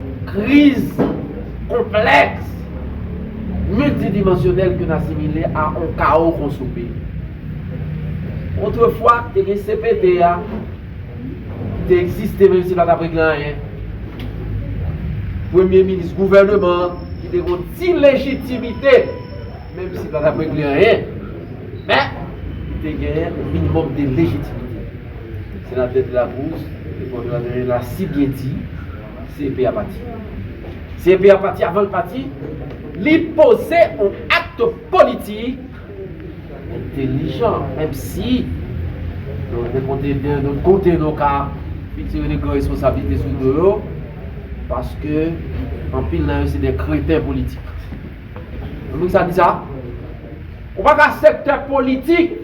Kriz konplèks miltidimansyonèl ki asimile a on kawo konsome. Otrefwa, te gen cpt a te egziste menm si pa t ap regle anyen. Premye minis gouvèneman an ki te gen on ti lejitimite menm si l pa t ap regle anyen, men, li te genyen on minimòm de lejitimite. Senatè Delacruz, te konn anyen l a si byen di. CEP a pati. CEP a pati avan l pati, li poze yon acte politik entelijan menm si nou gen kote byen lòt kote nou ka pitire de gran responsablite sou do yo paske anpil nan yo se de kreten politik. Konprann sa m di sa? Ou pa ka sektè politik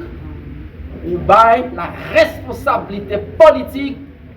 ou bay la responsablite politik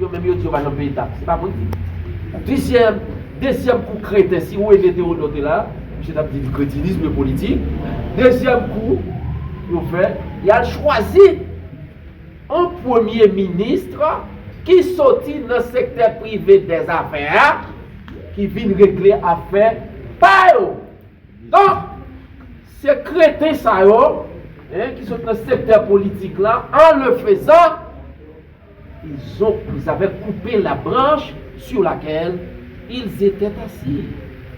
Yo menm yo di yo pa janm peye tax. Se pa mwen ki di. Plizyè dezyèm kou kreten si René Théodore te la, misye tap di li kretinism e politik. Dezyèm kou yo fè, yal chwazi on premye ministre ki soti nan sektè prive dè zafè a ki vin regle afè pa yo. Donk se kreten sa yo ki soti nan sektè politik la an le fezan. Ils ont ils avaient coupé la branche sur laquelle ils étaient assis,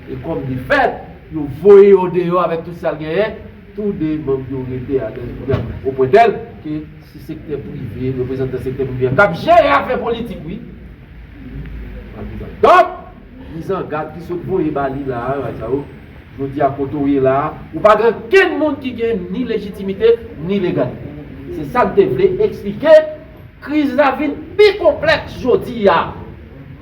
e kòm de fèt, yo voye yo deyò avèk tout sa l genyen, tou de manm yo rete alèz kounye a, o pwen tèl ke se sektè prive, reprezantan sektè prive a k ap jere afè politik wi. Donk, mizangad ki sot voye ba li la a, yo va di sa yo. Jodi a kote w ye la a, ou pa gen okenn moun ki gen ni lejitimite ni legalite. Se sa n te vle eksplike, kriz la vin pi konplèks jodi a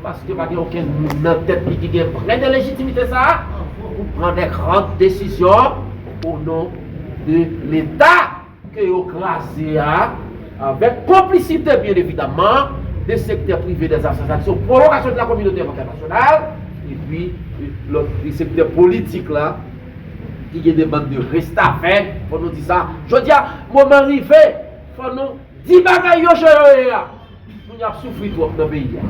paske pa gen okenn moun nan tèt li ki gen vrè de lejitimite sa a pou pran de gran desizyon o non de leta. ke yo kraze a, avèk konplisite byen evidamman de sektè prive dè asosasyon pou pwolongasyon de la kominote entènasyonal epi lòt de sektè politik la ki gen de bann de restavè, fò nou di sa, jodi a moman rive fò nou di bagay yo jan yo ye a. Moun yo ap soufri twòp nan peyi a.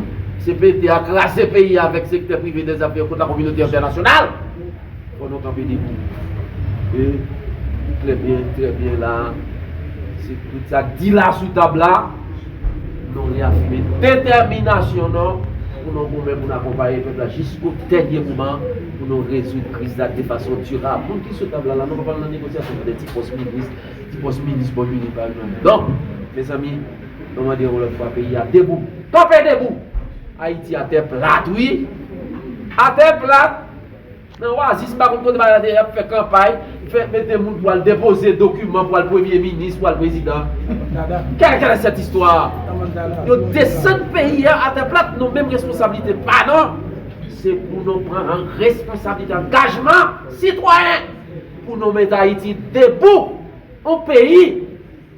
Cpt a kraze peyi a avèk sektè prive dezète yo kont lakominote entènasyonal. Fò nou kanpe debi. E li klè byen, trè byen la a, se tout sa k di la a sou tab la, nou reyafime detèminasyon nou pou nou goumen pou nou akonpaye pèp la jisko dènye moman pou nou rezoud kriz la de fason dirab. Moun ki sou tab la la, nou pa pral nan negosyasyon pou de ti pòs minis, ti pòs minis bò minis pa yo non. Donk, mezanmi, Mwen mande yon lòt fwa peyi a debou kanpe debou! Ayiti a tè plat wi! A tè plat! Nan wazis m pa konn kote bagay la te ye yap fè kanpay, fè mete moun pou al depoze dokiman pou al premye minis, pou al prezidan. Kèlèkèlè sèt istwa! Yo desann peyi a atè plat non menm responsablite pa nou! Se pou nou pran an responsablite angajman sitwayen pou nou mete Ayiti debou! On peyi!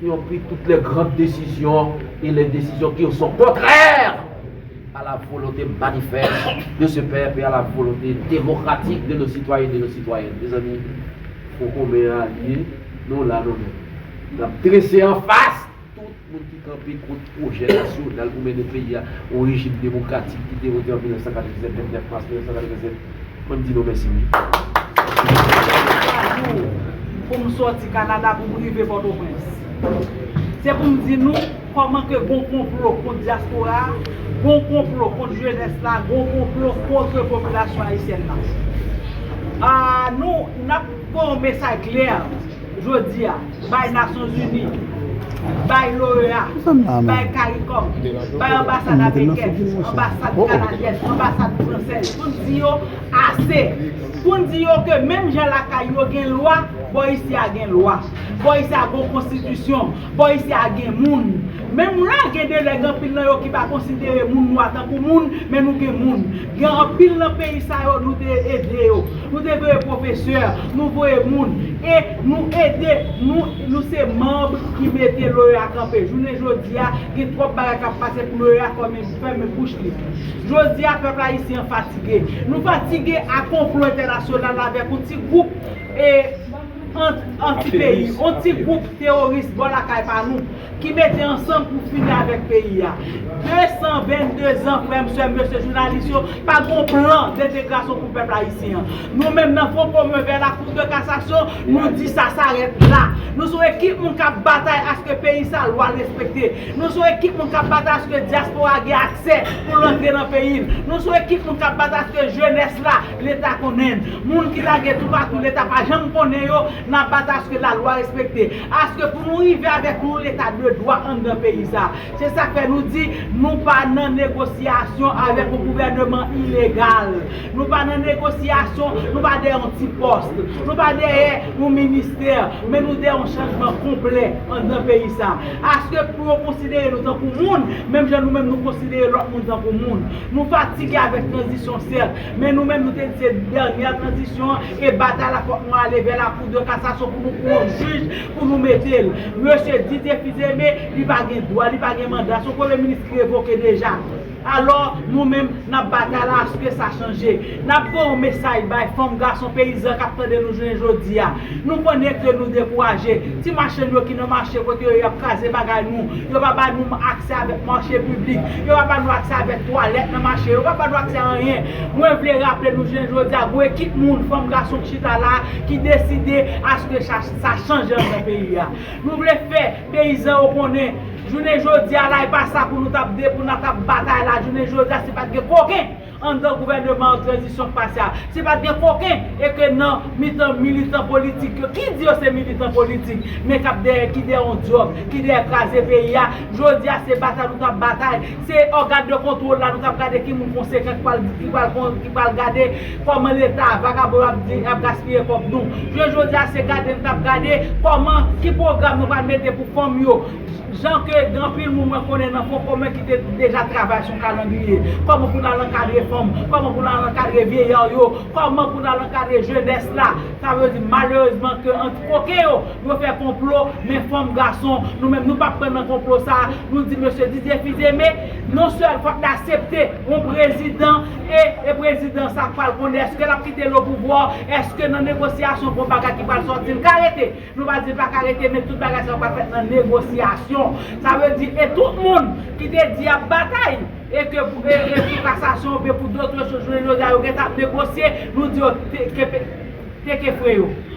Yo pri tout lè grand desizyon e lè desizyon ki yo son kontrè a la volonte manifès de se pèp e a la volonte demokratik de nos sitwayen e de nos sitwayèn. Mezanmi, fon komen a li ye, nou la nou menm. N ap drese anfas tout moun ki kanpe kont. pwojè nasyonal pou mennen peyi a yon rejim demokratik ki te vote an 1987, 29 mas 1987. Mwen m di nou mèsi wi. Mwen pran 3 jou pou m sòti Kanada pou m rive Pòtoprens. Se pou m di nou kòman ke gon konplo kont dyaspora a, gon konplo kont jenès la, gon konplo kontre popilasyon ayisyèn nan. Aah nou, n ap fè yon mesaj klè jodi a. bay Nasyon Zini, bay l'OEA, bay Caricom, bay anbasad amerikèn, anbasad kanadyèn, anbasad fransèz pou n di yo ase. Pou n di yo ke menm jan lakay yo gen lwa, bò isi a gen lwa. Bò isi a gon konstitisyon. Bò isi a gen moun. Menm lè gen de nèg anpil nan yo ki pa konsidere moun nwa tankou moun, men nou gen moun. Gen anpil nan peyi sa yo nou te ede yo. Nou te voye pwofesè, nou voye moun. E nou ede, nou nou se manb ki mete l'OEA kanpe. Jounen jodi a, gen twòp bagay k ap pase pou l'OEA fèmen fèmen bouch li. Jodi a pèp ayisyen an fatige. Nou fatige a konplo entènasyonal avèk yon ti gwoup e anti peyi. Yon ti gwoup teworis bò lakay pa nou. ki mete ansanm pou fini avèk peyi a 222 zan frèm sèm mesye jounalis yo pa gen yon plan dentegrasyon pou pèp ayisyen an nou menm nan fon komen vè la kou de kasasyon nou di sa sa rèt la nou son ekip moun kap batay aske peyi sa lwa l respekte nou son ekip moun kap batay aske diaspora gen aksè pou l antre nan peyi l nou son ekip moun kap batay aske jenès la leta konnen n moun ki lage toupatou leta pa janm konnen yo N ap bat aske lalwa respekte, aske pou nou rive avèk yon leta de dwa anndan peyi sa a. Se sa k fè nou di, nou pa nan negosyasyon avèk yon gouvèneman ilegal. Nou pa nan negosyasyon, nou pa dèyè yon ti pòs, nou pa dèyè yon ministè, men nou dèyè yon chanjman konplè anndan peyi sa a. Aske pou yo konsidere nou tankou moun, menm jan nou menm nou konsidere lòt moun tankou moun. Nou fatige avèk tranzisyon sèt, men nou menm nou te di se dènyè tranzisyon, Se batay la fok nou ale vè la cour de cassation pou nou pran yon jij pou nou mete l. Mesye Didier Fils-Aimé li pa gen dwa, li pa gen manda, se yon premye minis ki revoke deja. Alò nou menm nap batay la aske sa chanje. Nap voye yon mesay bay fanm, gason, peyizan kap tande nou jounen jodi a. Nou konnen ke nou dekouraje. Ti machann yo ki nan mache kote yo yap kraze bagay nou. Yo pa ba nou aksè avèk mache piblik. Yo pa ba nou aksè avèk twalèt nan mache. Yo pa ba nou aksè anyen. Mwen vle raple nou jounen jodi a, gon ekip moun, fanm, gason ki chita la a, ki deside aske sa chanje anndan peyi a. Nou vle fè peyizan yo konnen, jounen jodi a la e pa sa pou nou tap de, pou na tap batay la jounen jodi a si pat gen koken anndan gouvèneman an tranzisyon k pase a, si pat gen koken e ke nan mitan militan politik yo, ki di yo se militan politik, men kap dèyè, ki dèyè yon djòb, ki dèyè kraze peyi a, jodi a se batay nou tap batay, Se ògàn de kontwòl la nou t ap gade ki moun konsekan ki pral gade kòman leta vagabon yo ap gaspiye kòb nou. Jounen jodi a se gade n t ap gade kòman ki pwogram nou pral mete pou fanm yo jan ke gen anpil moun mwen konnen nan fon komen ki te deja travay sou kalandriye kòman pou n al ankadre fanm kòman pou n al ankadre vyeyar yo kòman pou n al ankadre jenès la sa vle di malerezman ke Koken yo, yo fè konplo, men fanm, gason, nou menm nou pa pran nan konplo sa a, nou di mesye Didier Fils-Aimé, non sèl fòk l asepte yon prezidan e e prezidan sa pral konnen èske l ap kite l o pouvwa, èske nan negosyasyon gon bagay ki pral sòti l ka rete, nou pa di l pa ka rete men tout bagay sa yo pral fèt nan negosyasyon. Sa vle di e tout moun ki te di y ap batay e ke pou e e pou kasasyon oubyen pou dotre chòz jounen jodi a yo gentan ap negosye, nou di yo te ke pe te ke fre yo.